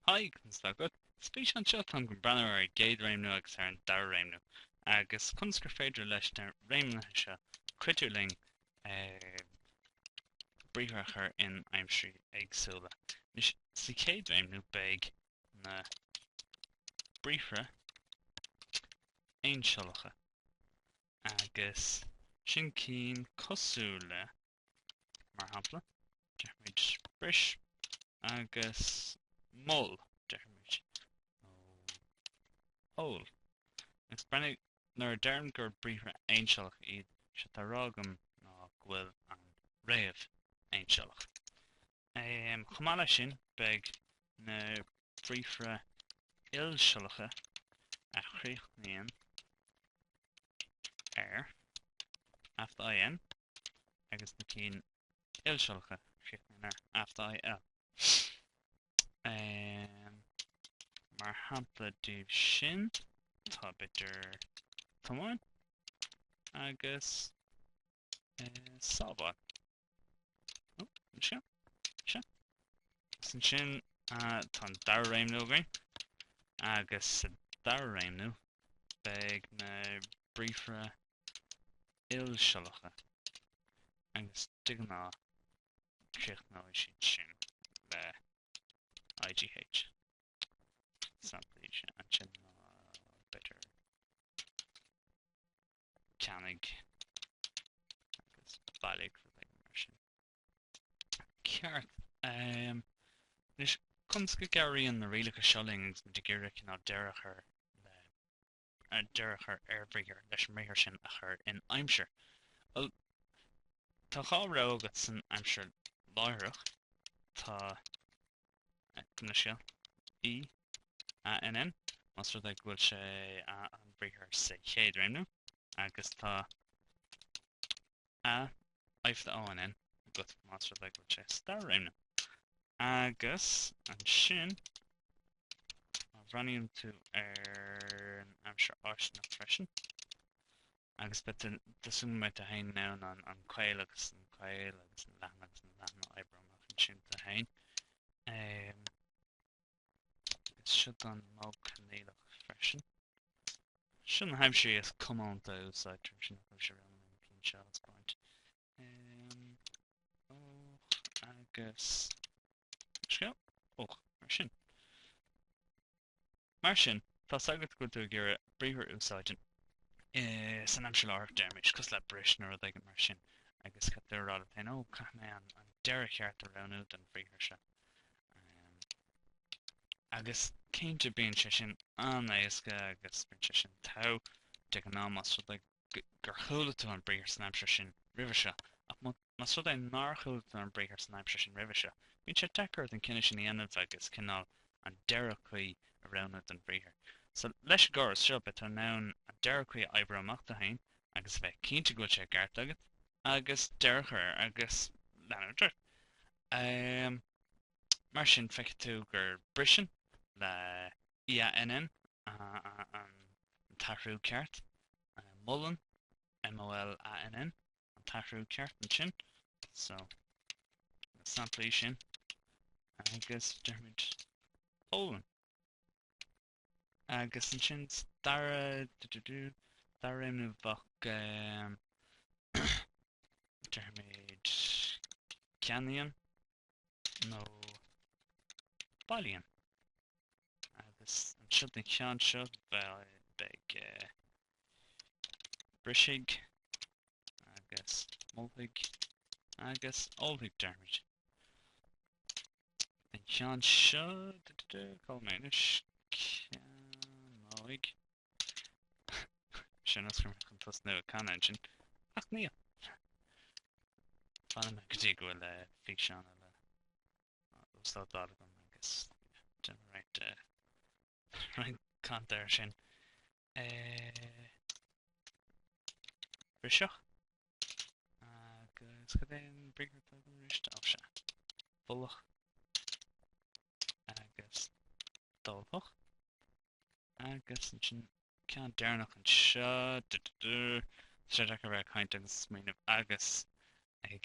Haigh, conas atá agat? Sa bhfíseán seo táim chun breathnú ar an gcéad réimniú agus ar an dara réimniú, agus conas gur féidir leis na réimnithe seo cuidiú linn briathra a chur in aimsirí éagsúla. Anois, sa chéad réimniú beidh na briathra aonsiollacha, agus sin cinn cosúil le mar shampla, deirimid bris agus mol, deirimid ól. Agus breathnaigh nuair a deirim gur briathra aonsiollach iad seo, 'sé atá á rá agam ná go bhfuil an fhréamh aonsiollach. Chomh maith leis sin, beidh na briathra ilsiollacha a chríochnaíonn ar, a fada, IN, agus na cinn ilsiollacha a chríochnaíonn ar a fada IL. Mar shampla díobh sin tá b'fhéidir tiomáin agus sábháil. Ó, seo, seo. Is ansin tá an dara réimniú againn agus sa dara réimniú beidh na briathra ilsiollacha agus de ghnáth críochnóidh siad sin le IGH. Samplaí sin ansin ná b'fhéidir ceannaigh agus bailigh, rud éigin mar sin. Ceart. Anois, conas go gcabhraíonn na rialacha seo linn agus muid ag iarraidh cineál deireadh a chur le deireadh a chur ar bhriathar leis an mbriathar sin a chur in aimsir. Bhuel, tá dhá rogha agat san aimsir láithreach. Tá ar nós cineál EANN, más rud é go bhfuil sé an bhriathar sa chéad réimniú, agus tá AI fada ONN agat más rud é go bhfuil sé sa dara réimniú. Agus ansin má bhreathnaíonn tú ar an aimsir fháistineach freisin agus beidh tú tá súil agam tú féin in ann an an caol agus an caol agus an leathan agus an leathan a oibriú amach ansin tú féin. Is seo don mhodh coinníollach freisin. Seo na haimsirí is comónta a úsáidtear leis an eh, leis na réimnithe, cinn seo a thaispeáint. Um, ódh agus cineál eodh mar sin. Mar sin, tá a fhios agat go bhfuil tú ag iarraidh briathar a úsáid in eh, san aimsir láithreach deirimís cosúil le bris nó rud éigin mar sin agus caithfidh tú a rá leat féin, ó, caithfidh mé an, an deireadh cheart a roghnú don bhriathar seo. Agus cinnte bíonn sé sin an-éasca agus bíonn sé sin tapa de ghnáth más rud é gur chuala tú an briathar san aimsir sin roimhe seo. Ach más rud é nár chuala tú an briathar san aimsir sin roimhe seo, bíonn sé deacair ort an cinneadh sin a dhéanamh agus cineál an deireadh cuí a roghnú don bhriathar. So, leis an gcóras seo, beidh tú in ann an deireadh cuí a oibriú amach tú féin agus a bheith cinnte go bhfuil sé i gceart agat agus deireadh a chur air agus leanúint ort. Ehm, mar sin feicfidh tú gur briseann le EANN an t-athrú ceart. Molann MOLANN an t-athrú ceart ansin. So, samplaí sin agus deirimid ólann. Agus ansin dara, dara réimniú bheadh, deirimid ceannaíonn nó bailíonn. Agus ansin don cheann seo bheadh, beidh, brisfidh agus molfaidh agus ólfaidh deirimid. An ceann seo, cá bhfuil mé anois, ceannóidh. Bhíos chun chun tosnú ag canadh ansin, ach níl. Fanfaidh mé go dtí go bhfuil eh, físeán eile uaslódáilte agam agus right, uh, Roinnt canadh air sin. Brisfeadh. Agus cad é an briathar atá agam arís? Ó sea. Mholfadh agus d'ólfadh. Agus ansin ceann deireanach anseo. Tá sé deacair a bheith ag caint agus smaoineamh agus ag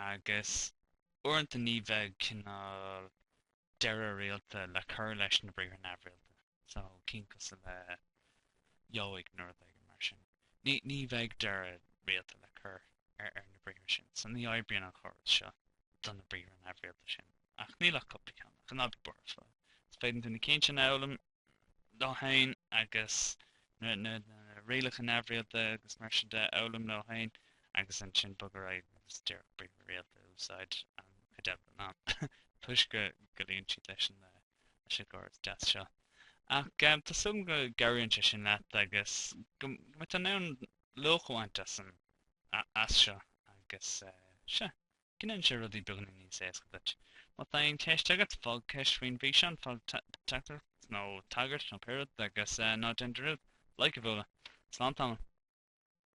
agus uaireanta ní bheadh cineál deireadh rialta le cur leis na briathra neamhrialta, so cinn cosúil le gheobhaidh nó rud éigin mar sin, ní ní bheadh deireadh rialta le cur ar ar na briathra sin, so ní oibríonn an córas seo do na briathra neamhrialta sin, ach níl ach cúpla ceann, ach an oiread, bheadh sé fada. Is féidir na cinn sin a fhoghlaim. leo féin agus na rialacha neamhrialta agus mar sin de a fhoghlaim leo féin agus ansin bogadh ar aghaidh agus díreach briathra rialta a úsáid an chuid eile den am toisc go luíonn siad leis an gcóras deas seo. Ach tá súil go gcabhraíonn sé sin leat agus go mbeidh tú in ann luach a bhaint as seo agus sea. Go ndéanann sé rudaí beagáinín níos éasca duit. Má tá aon cheist agat, fág ceist faoin bhfíseán, fág teachtaireacht nó tagairt nó pé rud agus ná déan dearúd like a bhualadh. Slán tamall.